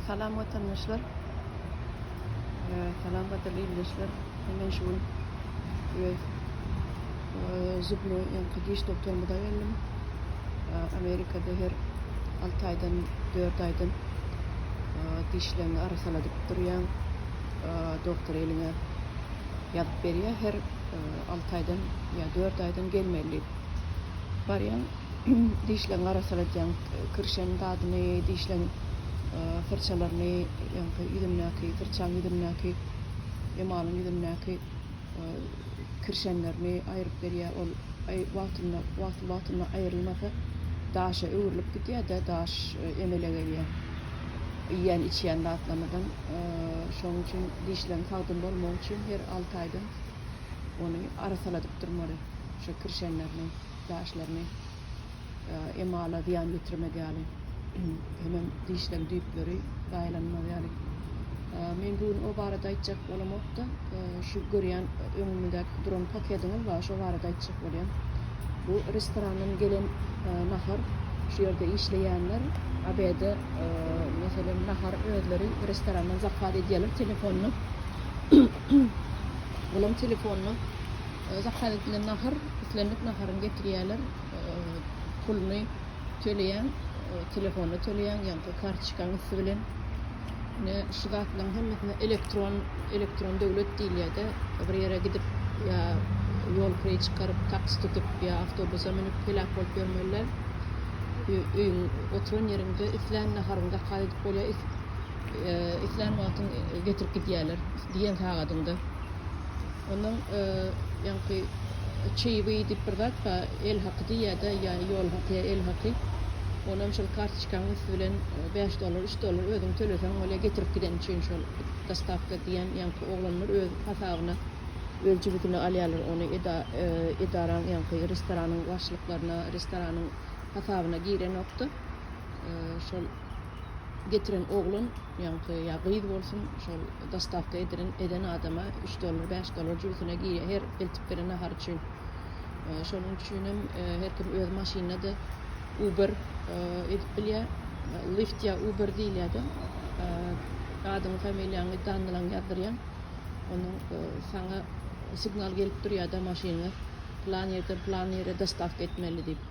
Salam watandaşlar. Salam watandaşlar ildeşler. Hemen şu gün öz zubnoý ýaňky diş doktoryma da geldim. Amerikada her 6 aýdan 4 aýdan dişlerini arasaladyp durýan doktor eliňe ýazyp berýär. Her 6 aýdan ýa 4 aýdan gelmeli diýip. Barýan dişleňi arassaladýan kirşen zadyny, dişleň syrçalaryny, ýaňky ýüzündäki, syrçaň ýüzündäki, emalyň ýüzündäki kirşenlerini aýryp berýär. Ol wagtynda, wagtly-wagtynda aýrylmasa, daşa öwrülip gidýär-de, daş emele gelýär. Iýýän-içýän zatlarymyzdan, şonuň üçin dişleň sagdyn bolmagy üçin her alty aýdan ony arassaladyp durmaly, şo kirşenlerini. Däşlerini emala zyýan ýetirmek ýaly, hemem dişleriň düýpleri zaýalanmaz ýaly. Men bu gün o barada aýtjak bolamok-da, şu görýän öňümizdäki duran pakediňiz bar, şo barada aýtjak bolýan. Bu restorandan gelen nahar, şu ýerde işleýänler obede, meselem, nahar özleri restorandan zakaz edýärler telefondan. Olaryň telefondan. Zakaz edilen nahar, islendik naharyny getirýärler, puluny töleýäň, telefona töleýäň ýa-da kartoçkaň üsti bilen. Ine, şu zatlaryň hemmesine elektron, elektron döwlet diýilýär-de, bir ýere gidip ýa ýol kiri çykaryp, taks tutup ýa awtobusa münüp heläk bolup ýörmeliler. Öýüň, oturan ýeriňde islän naharyňy zakaz edip bolýar, islän wagtyň getirip gidýärler, diýen sagadyňda. Onuň ýaňky çeýwi diýip bir zat bar, el haky diýýär-de, ýa ýol haky, ýa el haky. Onam şol kartoçkanyň üsti bilen bäş dollar, üç dollar özüň töleseň bolýar, getirip gideni üçin şol dostawka diýen ýaňky oglanlar öz hasabyna, öz jübütine alýarlar ony, eda, edaraň ýaňky restoranyň başlyklaryna, restoranyň hasabyna girenokdy. Şol. getiren oglan ýaňky ýa gyz bolsun şol dostawka edilen eden adama üç dollar bäş dollar jübüsine girýär her eltip beren nahary üçin şonuň üçinem her kim öz maşynyna da uber edip bilýär lift ýa uber diýilýärde adyňy familiýaňy danlaň ýazdyrýaň onuň saňa signal gelip durýarda maşynyňy plan ýerden plan ýere dostawka etmeli diýip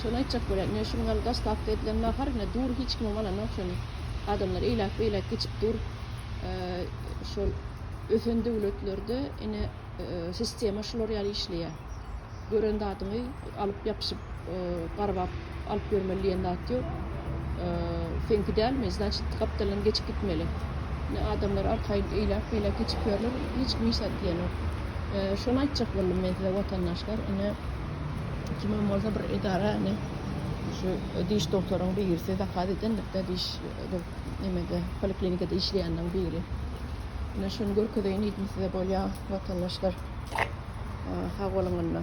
Şony aýtjak bolýan. Ine, şu gün ol daslapky edilen nahar, ine, dur, hiç kimiň alanok şony. Adamlar eýläk-beýläk geçip dur. Şol ösen döwletlerde, ine, sistema şular ýaly işleýär. Gören zadyňy alyp, ýapyşyp, garbap alyp ýörmeli diýen zat ýok. Seňki dälmi, znaçit, gapdaldan geçip gitmeli. Ine, adamlar arkaýyn eýläk-beýläk geçip ýörler, hiç kim hiç zat diýenok. Şony aýtjak boldum men size, watandaşlar, ine, Kimin bolsa bir edarany şu diş doktoryň birisi zakaz edenlikde diş bir nemede poliklinikada işleýänleriň biri. Ine şuny görkezeýin diýdim size bolýa watandaşlar. Sag boluň onda.